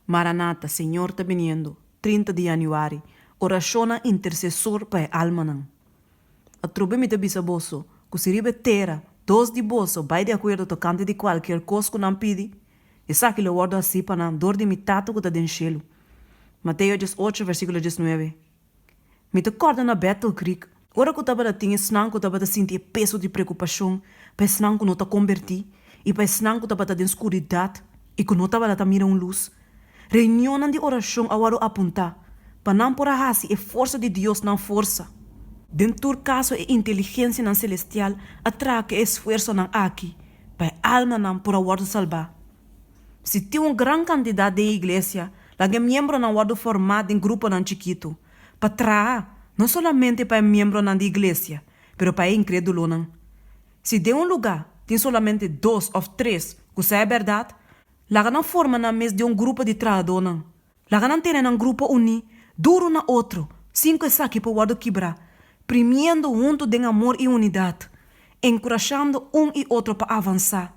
Maranata, Señor ta biniendo, trinta di Januari, Orashonnan intersesor pa e almanan. Atrobe mi ta bisa boso ku si riba e tera dos di boso bai di akuerdo tokante di kualkier kos ku nan pidi, esaki lo wòrdu hasi pa nan dor di mi Tata ku ta den shelu. Mateo dies ocho, versíkulo dies nuebe, Mi ta kòrda na Battle Creek, ora ku tabata tin esnan ku tabata sinti e peso di preokupashon pa esnan ku no ta kombertí i pa esnan ku tabata den skuridat i ku no tabata ta mira un lus. Reunionnan di orashon a wòrdu apuntá pa nan por a hasi e forsa di Dios nan forsa. Den tur kaso e inteligensianan selestial a traha ku e esfuersonan aki pa e almanan por a wòrdu salbá. Si tin un gran kantidat den e iglesia, laga e miembronan wòrdu formá den gruponan chikitu, pa traha no solamente pa e miembronan di iglesia, pero pa e inkrédulonan. Si den un lugá tin solamente dos òf tres ku sa e bèrdat, laga nan forma nan mes den un grupo di trahadónan. Laga nan tene nan grupo uní duru na otro, sin ku esaki por wòrdu kibrá, primiendo huntu den amor i unidat, enkurashando un i otro pa avansá,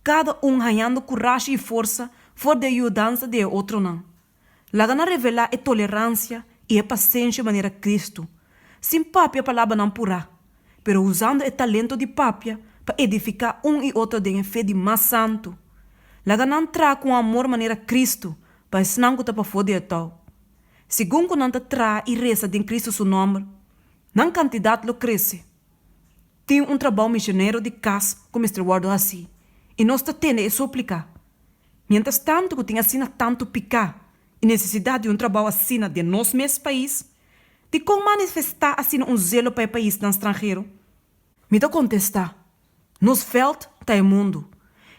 kada un hañando kurashi i forsa for di e yudansa di e otronan. Laga nan revelá e toleransia i e pasenshi manera Kristu, sin papia palabranan purá, pero usando e talento di papia pa edifiká un i otro den e fe di mas santu. Laga nan traha ku un amor manera Kristu pa esnan ku ta pafó di e tou. Segun ku nan ta traha i resa den Kristu su nòmber, nan kantidat lo krese. Tin un trabou misionero di kas ku mester wòrdu hasí, i nos ta tende e súplika. Miéntras tantu ku tin asina tantu piká i nesesidat di un trabou asina den nos mes pais, Dikon manifestá asina un zelo pa e paisnan stranhero? Mi ta kontestá, Nos vèld ta e mundu.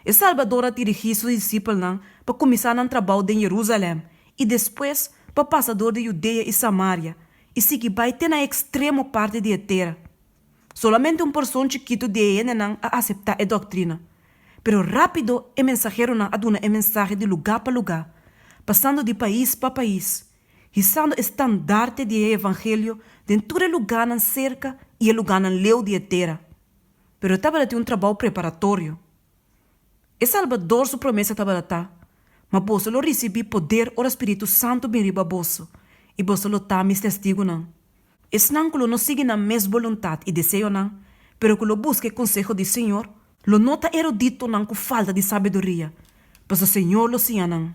E Salbador a dirigí su disipelnan pa kuminsá nan trabou den Jerusalèm i despues pa pasa dor di Judea i Samaria i sigui bai te na e ekstremo parti di e tera. Solamente un porson chikitu di e hendenan a aseptá e dòktrina. Pero rápido e mensaheronan a duna e mensahe di lugá pa lugá, pasando di pais pa pais Hisando e standarte di e evangelio den tur e lugánan serka i e lugánan leu di e tera. Pero e tabata tin un trabou preparatorio. E Salbador su promesa tabata ta, Ma boso lo risibí poder ora spiritu santu bin riba boso, i boso lo ta mi testigunan. Esnan ku lo no sigui nan mes boluntat i deseonan, pero ku lo buska e konseho di Señor, lo no ta eruditonan ku falta di sabiduria, pasobra Señor lo siña nan.